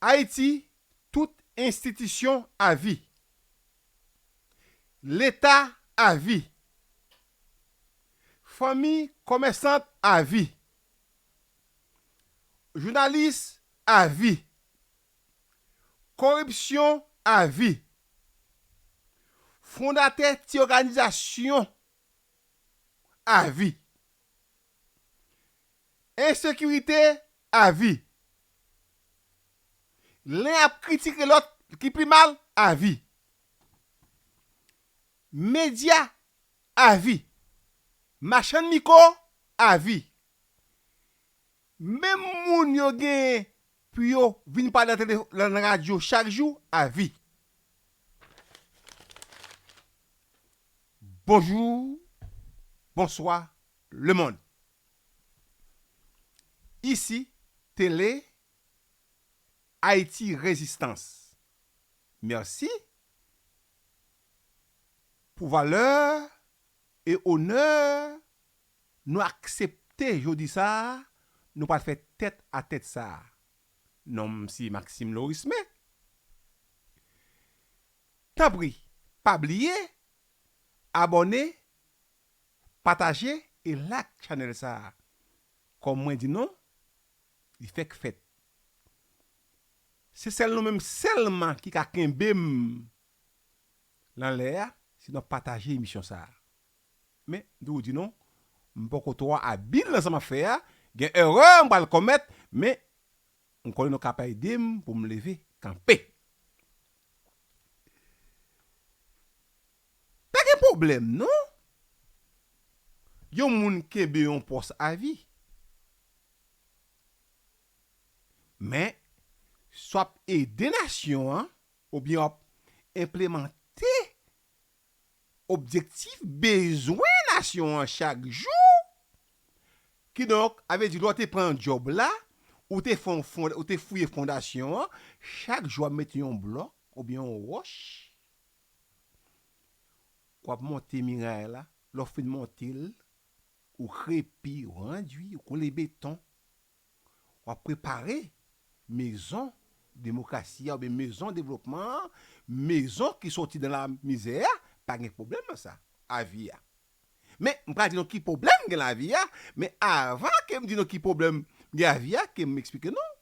Ayiti tout enstitisyon avi. Leta avi. Fanmi komèsant avi. Jounalis avi. Koripsyon avi. Fondatè ti oganizasyon avi. Ensekirite avi. Len ap kritike lòt ki pi mal avi. Medya avi. Machann miko avi. Menm moun yo genyen pou yo vin pale nan tele nan radyo chak jou avi. Bonjou bonswa lemond. Isi Tele Haiti Rezistans Mèsi pou valè e onè nou aksepte jodi sa a nou pral fè tèt a tèt sa a. Non m se Maxime Lorisme. Tanpri pa bliye abòne Pataje e lak chanèl sa Kòm mwen di non Li fèk fèt Se sèl nou menm sèlman ki ka kenbem Lan lè a si nou ap pataje emisyon sa Men m toujou di non M poko twò abil nan sa map fè a Gen erè m pral komèt men M konnen nou kap aide m pou m leve kanpe. Pa gen pwoblèm non. Yon moun kenbe yon pòs avi. Men, si w ap ede nasyon an oubyen w ap enplemante objektif bezwen nasyon an chak jou, kidonk a vle di lè w te pran djòb la, ou te fè yon fon, ou te fouye fondasyon an, chak jou w ap mete yon blòk oubyen yon wòch, w ap monte miray la, lè w fin monte l, ou krepi, ou andwi, ou kole beton. w ap prepare mezon demokrasi a oubyen mezon devlopman an, mezon ki soti nan lamizè a, pa gen pwoblèm nan sa, avi a. Men, m pral di nou ki pwoblèm gen nan avi a, men avan ke m di nou ki pwoblèm gen nan avi a, ke m eksplike nou,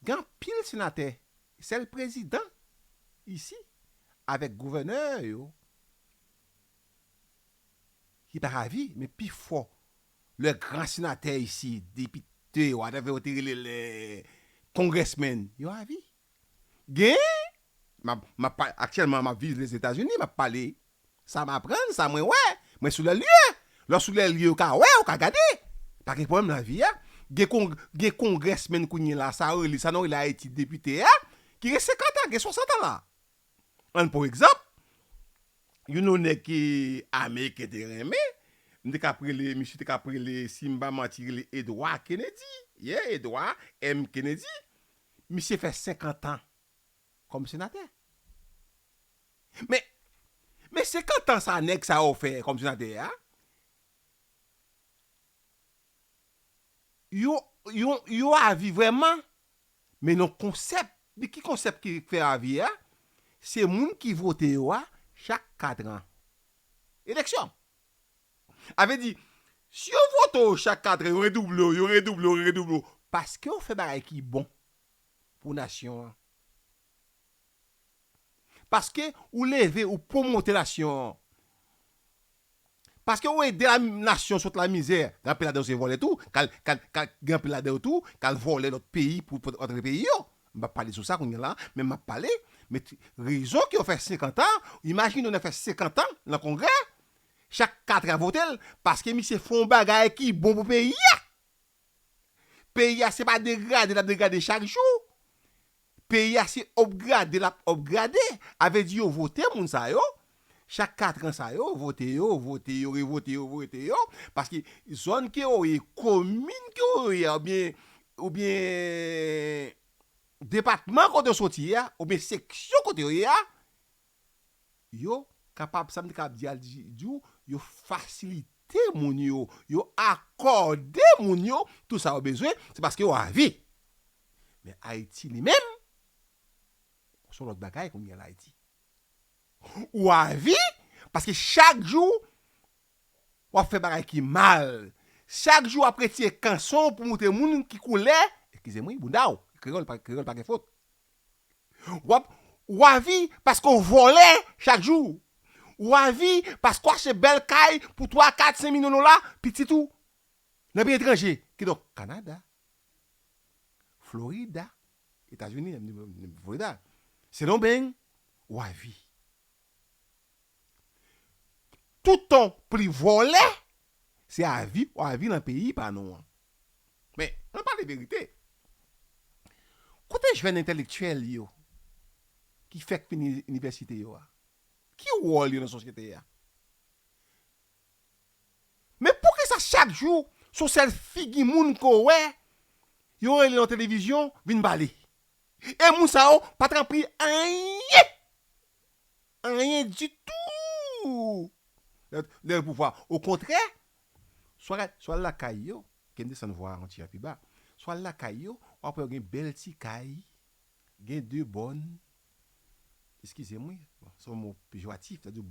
gen anpil senatè, sèl prezidan isi avèk gouvènè yo ki pa avi, men pifò lè gran senatè isi, depite, whatever yo te rele lè congressmen yo avi. Gen, map, map pa, aktyèlman map viv Lèzetazini, map pale sa m aprann, sa mwen wè, mwen sou lè lye. Lè w sou lè lye ou ka wè, ou ka gade. Pa gen pwoblèm lavi a. Gen kon, gen congressmen kounyela sa yo rele, sa nou rele Ayiti depite a, ki gen 50 an, gen 60 an la. An pou egzanp, youn nan nèg ke Ameriken te renmen, m te kap rele, misye te kap rele, si m pa manti, rele Edwa Kenedi. Ye, Edwa M. Kenedi. Misye fè senkantan kòm senatè. Men, men senkantan sa nèg sa yo fè kòm senatè a, yo, yo, yo avi vrèman Men nan konsèp li ki konsèp ki fè avi a, se moun ki vote yo a chak katran. Eleksyon. A vle di, si yo vote w chak katran, yo redouble w, yo redouble w, yo redouble w, paske w fè bagay ki bon pou nasyon an. Paske ou leve ou pwomote nasyon an. Paske ou ede nasyon sot la mizè. Gen anpil ladan yo se vòlè tou. Kal, kal, kal, gen anpil ladan yo tou kal vòlè lòt peyi pou pot antre peyi yo. M pa pale sou sa kounye la a, men m ap pale. Men ti, rezon ke yo fè 50 an, imajine yon nèg fè 50 an lan kongrè, chak 4 an yo vote l, paske misye fè yon bagay ki bon pou peyi a! Peyi a se pa degrade lap degrade chak jou. Peyi a se upgrade lap upgrade. A vle di yo vote moun sa yo. Chak 4 ans sa yo, vote yo, vote yo, revote yo, vote yo. Paske zòn ke yo ye, komin ke yo ye oubyen oubyen depatman kote yo soti a, oubyen seksyon kote yo ye a, Yo kapab, sa m te kab di al di ou, yo fasilite moun yo, yo akòde moun yo tou sa yo bezwen, se paske yo avi. Men Ayiti li menm, son lòt bagay kounye a la Ayiti. Ou avi, paske chak jou w ap fè bagay ki mal, chak jou w ap retire kanson w pou montre moun ki koulè, eskize m wi, bouda w, kreyòl pa gen fot, Wap ou avi paske w vòlè chak jou. Ou avi paske w achte bèl kay pou 3, 4, 5 milyon dola pitit ou nan peyi etranje kidonk Kanada, Florida, Etazini, Florida, Sendomeng ou avi. Toutan w pli vòlè Se a vi ou a vi lan peyi pa nou an. Men, an pale verite, kote jèn entèlektyèl yo ki fèk fini inivèsite yo a? Ki wòl yo lan sosyete a? Men poukisa chak jou se yon sèl figi moun ke w wè, yo rele lan televizyon vin pale? E moun sa yo pa t ranpli anyen! anyen ditou lè l pouvwa a. Okontrè, swa l lakay yo, ke m desann vwa a yon ti jan pi ba, swa l lakay yo, w ap wè yo gen bèl ti kay, gen de bòn, eskize m wi, se yon mo pejoratif sa di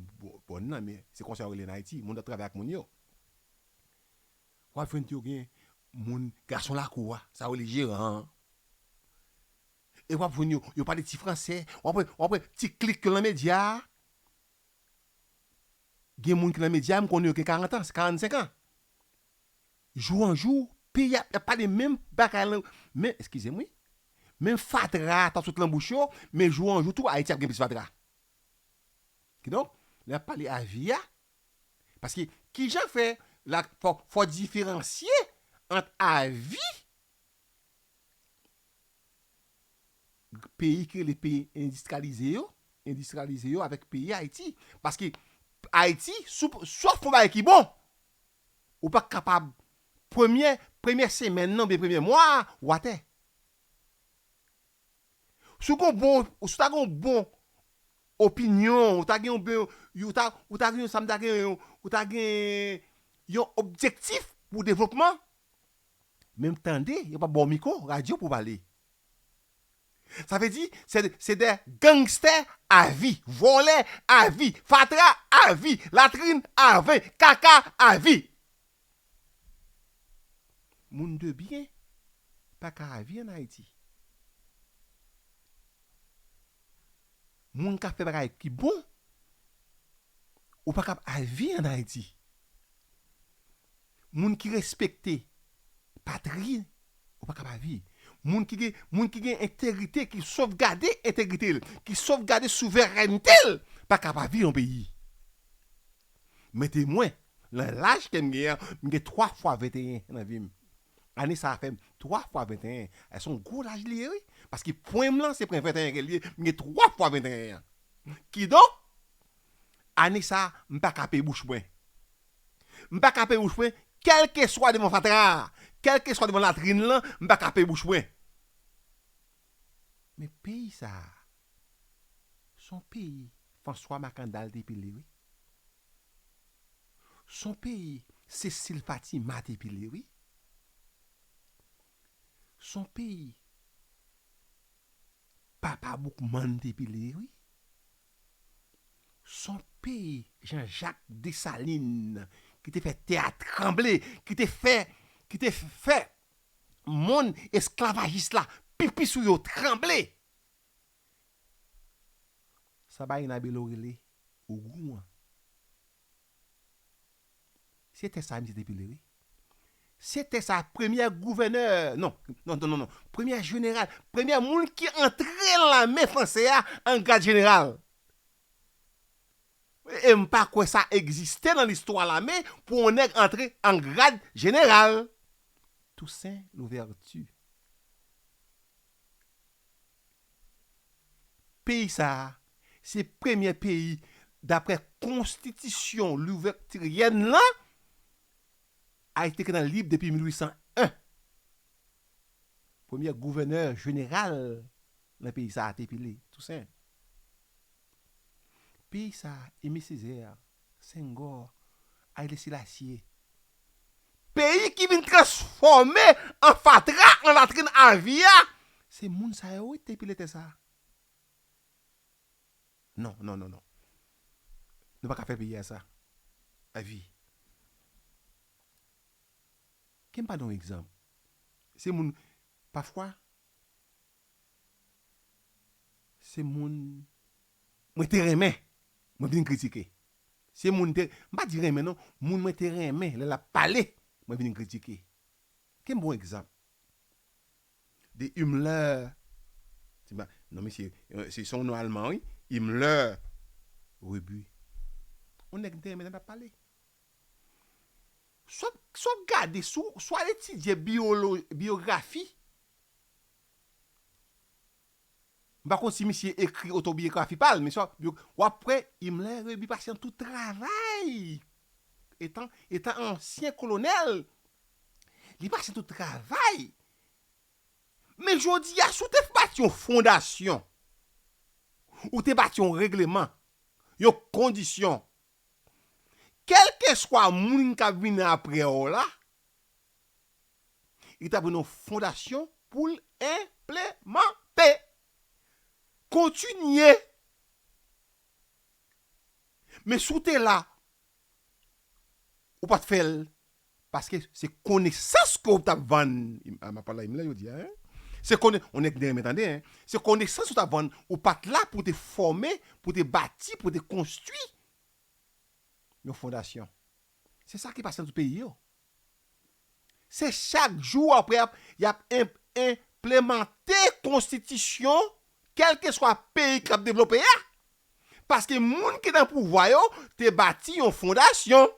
bòn nan men se konsa yo rele l an Ayiti, moun ap travay ak moun yo. W ap jwenn tou yo gen moun gason lakou a, sa yo rele jeran an. e wap jwenn yo yo pale ti fransè wap wè wap wè ti klik yo nan medya a gen moun ki nan medya m konnen yo gen 40 ans 45 ans jou an jou pi yap yap pale menm bagay lan men eskizem wi menm fatra a tap sot nan bouch yo men jou an jou tou ayiti ap gen plis fatra kidonk lè yap pale avi a paske kijan fè la fò fò diferansye ant avi peyi ki rele peyi endistralize yo endistralize yo avèk peyi Ayiti paske Ayiti sòf yon bagay ki bon ou pa kapab premye premye semèn nan oubyen premye mwa a ou atè si w gon bon si w ta gen yon bon opinyon ou ta gen yon bon ou ta ou ta gen sa m ta gen ou ta gen yon objektif pou devlopman Menm tande yo pap baw miko radyo pou pale. Sa vle di se de gangstè a vi, vòlè a vi, fatra a vi, latrin a vi, kaka a vi. Moun de byen pa ka a vi an Ayiti. Moun kap fè bagay ki bon ou pa kap a vi an Ayiti. moun ki respekte patri ou pa ka pa vi moun ki gen moun ki gen entegrite ki sovgade entegrite l ki sovgade souverènte l pa ka pa vi yon peyi mete mwen nan laj ke m gen an m gen 3 fwa 21 nan vi m ane sa fè m 3 fwa 21 a se yon gwo laj li ye wi paske pwen m lan se pwen 21 ke l ye m gen 3 fwa 21 an kidonk Ane sa m pa ka pe bouch mwen. M pa ka pe bouch mwen kèlkeswa devan fatra a, kèlkeswa devan latrin lan m pa ka pe bouch mwen. Men peyi sa a s on peyi Franswa Makandal te pile wi. S on peyi Sesil Fatima te pile wi. S on peyi Papa Boukman te pile wi. Son peyi Jean Jacques Dessalines ki te fè tè a tranble, ki te fè, ki te fè monn esklavajis la pipi sou yo tranble. Sa Baena Bello rele Ogou an. Se tè sa misye te pile wi. Se tè sa premyè gouvènè, non, non, non, non, premyè jeneral, premyè moun ki antre nan lame franse a an grad jeneral. E m pa kwè sa egziste nan listwa lame pou yon nèg antre an grad jeneral. Toussaint Louverture. Peyi sa a se premyè peyi dapre konstitisyon louvèktiryèn lan, Ayiti te gentan lib depi 1801. Premyè gouvènè jeneral nan peyi sa a te pile Tousen. Peyi sa a Eme Sezè Senghor, Haile Selassie. Peyi ki vin transfòme an fatra, an latrin avi a, se moun sa yo wi ki te pile tè sa a. Non, non, non, non. Nou pa ka fè peyi a sa. Avi. Ke m ba nou yon egzanp. Se moun, pafwa, se moun. mwen te renmen mwen vin kritike se moun te m pa di renmen non moun mwen te renmen lè lap pale mwen vin kritike kem bon egzanp de Himmler se pa non mesye se son non alman wi Himmler Rebu on nèg m te renmen lè lap pale swa swa w gade sou swa w etidye biolo biografi. M pa konn si misye ekri otobiyografi pa l men sa w ap kwè Imler Rebi pase nan tout travay etan etan ansyen kolonèl li pase nan tout travay men jodi a si w te bati yon fondasyon ou te bati yon regleman yon kondisyon kèlkeswa moun k ap vini apre w la li ta pran yon fondasyon pou l enplemante. Kontinye! Men si w te la, ou pa t fè l, paske se konesans ke w t ap vann, m ap pale a Imlè jodi a, se konesans, on nèg gen renmen tande, se konesans ou t ap vann, ou pa t la pou w te fòme, pou w te bati, pou w te konstwi yon fondasyon. Se sa ki pase nan tout peyi yo. Se chak jou w apre y ap enplemante konstitisyon kèlkeswa peyi k ap devlope a, paske moun ki nan pouvwa yo te bati yon fondasyon.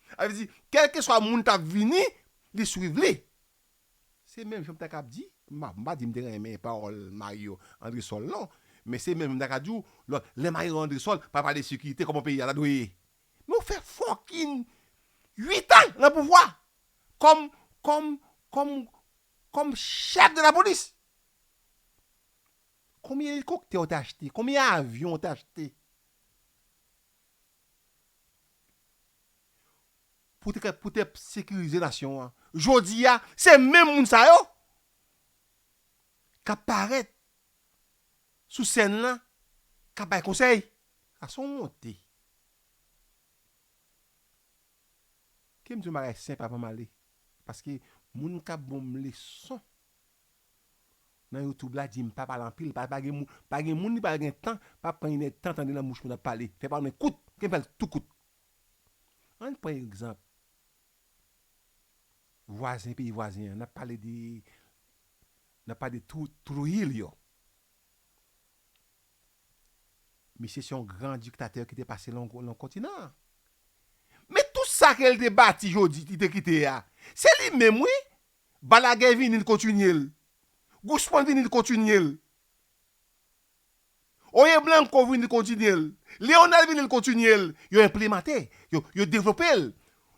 Sa vle di, kèlkeswa moun k ap vini, li swiv li. Se menm jan m ta ka di, m pa di m te renmen pawòl Mario Andresol non, men se menm jan m ta ka di w, lè Mario Andresol pa pale sekirite, kòman peyi a ta dwe ye? Nou fè fucking 8 ans nan pouvwa kòm kòm kòm kòm chèf de la police. Konbyen elikoptè ou te achte? Konbyen avyon ou te achte? Pou te pou te sekirize nasyon an. Jodi a se menm moun sa yo kap parèt sou sèn lan kap bay konsèy sa son wonte kem di yon bagay senp avan male paske moun kap banm leson nan youtube la dim pa pale anpil pa gen moun pa gen moun li pa gen tan pa pran inèd tan tande nan bouch moun ap pale fè pawòl mwen kout kem fèl tou kout ann pran egzanp vwazen peyi vwazen an nap pale de Nap pale de Trujillo. Misye se yon gran diktatè ki te pase nan kontinan an. Men tout sa ke li te bati jodi, li te kite a, se li menm wi. Balaguer vini, li kontinye l. Guzman vini, li kontinye l. Oye Blanco vini kontinye l. Leonel vini l kontinye l. Yo enplemante, yo devlope l.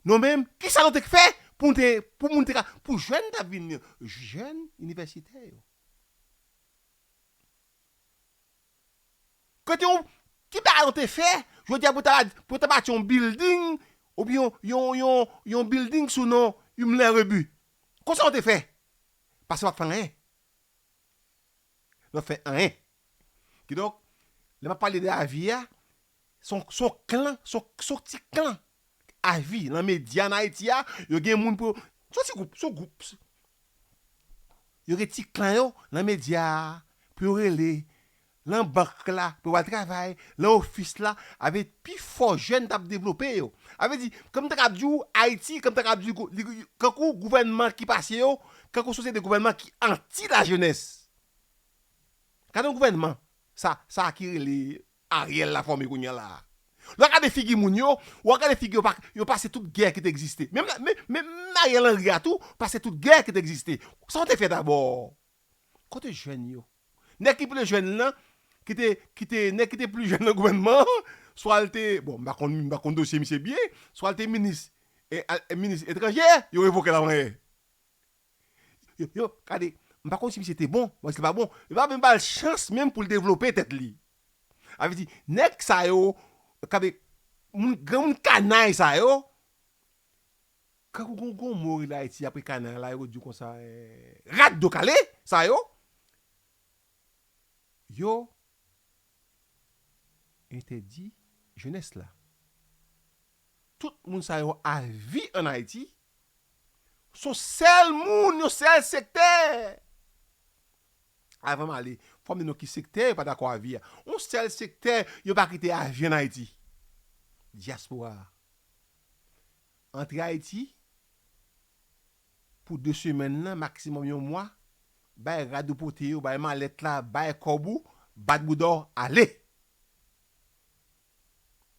Nou menm, ki sa nou te k fè pou nou te, pou moun te ka, pou jèn k ap vini yo, jèn inivèsitè yo. Kote yo, ki bagay yo te fè jodi a pou ta, pou yo ta bati yon bilding oubyen yon, yon, yon bilding sou non Imler Rebu? Konsa yo te fè? Pase yo pa k fè anyen. Yo fè anyen. Kidonk, lè map pale de avi a, son son klan, son son ti klan avi lan medya an Ayiti a, yo gen moun pou yo, son ti gwoup, son gwoup, yo gen ti klan yo lan medya a pou yo rele, lan bank la pou yo al travay, lan ofis la, avè pi fò jèn tap devlope yo. Avè di, kòm m ta kab di w Ayiti, kòm m ta kab di w kankou gouvènman ki pase yo, kankou sosyete gouvènman ki anti la jenès. Gade yon gouvènman sa sa ki rele Ariel la fòme kounye an la a. Lè w gade figi moun yo, ou ap gade figi yo pa yo pase tout gè ki te egziste. Menm la menm menm Ariel Henry a tou pase tout gè ki te egziste. Sa yo te fè dabò? Kote jèn yo? Nèg ki ple jèn lan ki te ki te nèg ki te pli jèn nan gouvènman an swa l te bon m pa konn m pa konn dosye misye byen swa l te minis e al minis etranjè yo revoke l avan yè. Yo yo gade m pa konn si misye te bon men si l pa bon yo pa menm ba l chans menm pou l devlope tèt li sa vle di nèg sa yo gade moun granmoun kanay sa yo tankou gon mo rele ayiti apre kanay la yo di konsa rat do kale sa yo yo entèdi jenès la Tout moun sa yo avi an Ayiti, son sèl moun, yon sèl sektè, avan m ale, fò m di nou ki sektè yo pa dakò avi a, yon sèl sektè yo pa kite avi an Ayiti, dyaspora a. Antre Ayiti pou de semèn nan, maksimòm yon mwa, bay rad ou pote yo, bay malèt la, bay kòb ou, bat bouda w, ale!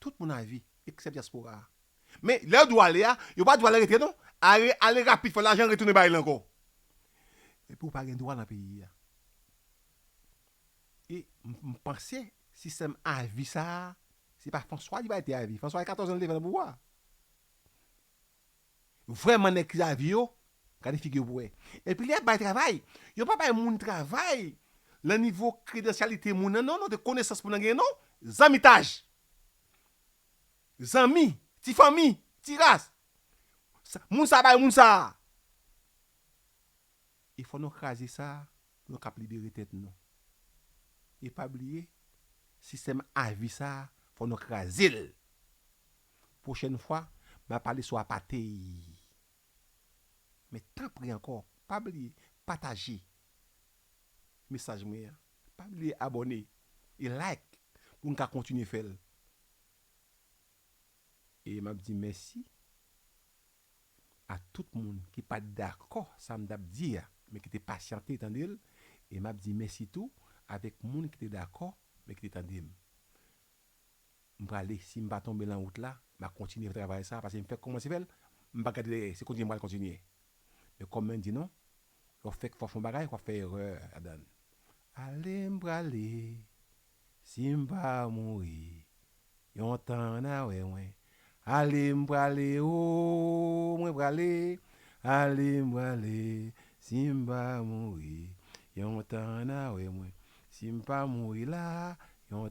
Tout moun a vi, eksèp dyaspora a. Men, lè yo di w ale a, yo pa di w ale rete non. Ale, ale rapid, fè lajan retounen bay li ankò. Epi ou pa gen dwa nan peyi a. E, m panse, sistèm avi sa a, se pa François li bay te avi. François gen 14 an li te vin nan pouvwa a. Vrèman nèg ki lavi yo gade figi yo pou wè epi lè yap bay travay yo pa bay moun travay lan nivo kredansyalite moun lan non non de konesans moun lan genyen non zanmitaj zanmi ti fanmi ti ras moun sa bay moun sa e fò nou kraze sa pou nou kap libere tèt nou e pa bliye sistèm avi sa fò nou krazel Pwochèn fwa map pale sou apatey men tanpri ankò pa bliye pataje mesaj mwen an, pa bliye abòne e like pou n ka kontinye fè l. E map di mèsi a tout moun ki pat dakò sa m tap di a men ki te pasyante tande l e map di mèsi tou avèk moun ki te dakò men ki te tande m. M prale si m pa tonbe lan wout la ma kontinye fè travay sa pase m fèk kòmanse fè l m pa gade dèyè se kontinye m pral kontinye men kòm men di nou lè w fèk fò fon bagay wap fè erè ladan l ale m prale si m pa mouri yon tan an a wè mwen ale m prale ooh mwen prale ale m prale si m pa mouri yon tan an a wè mwen si m pa mouri la yon.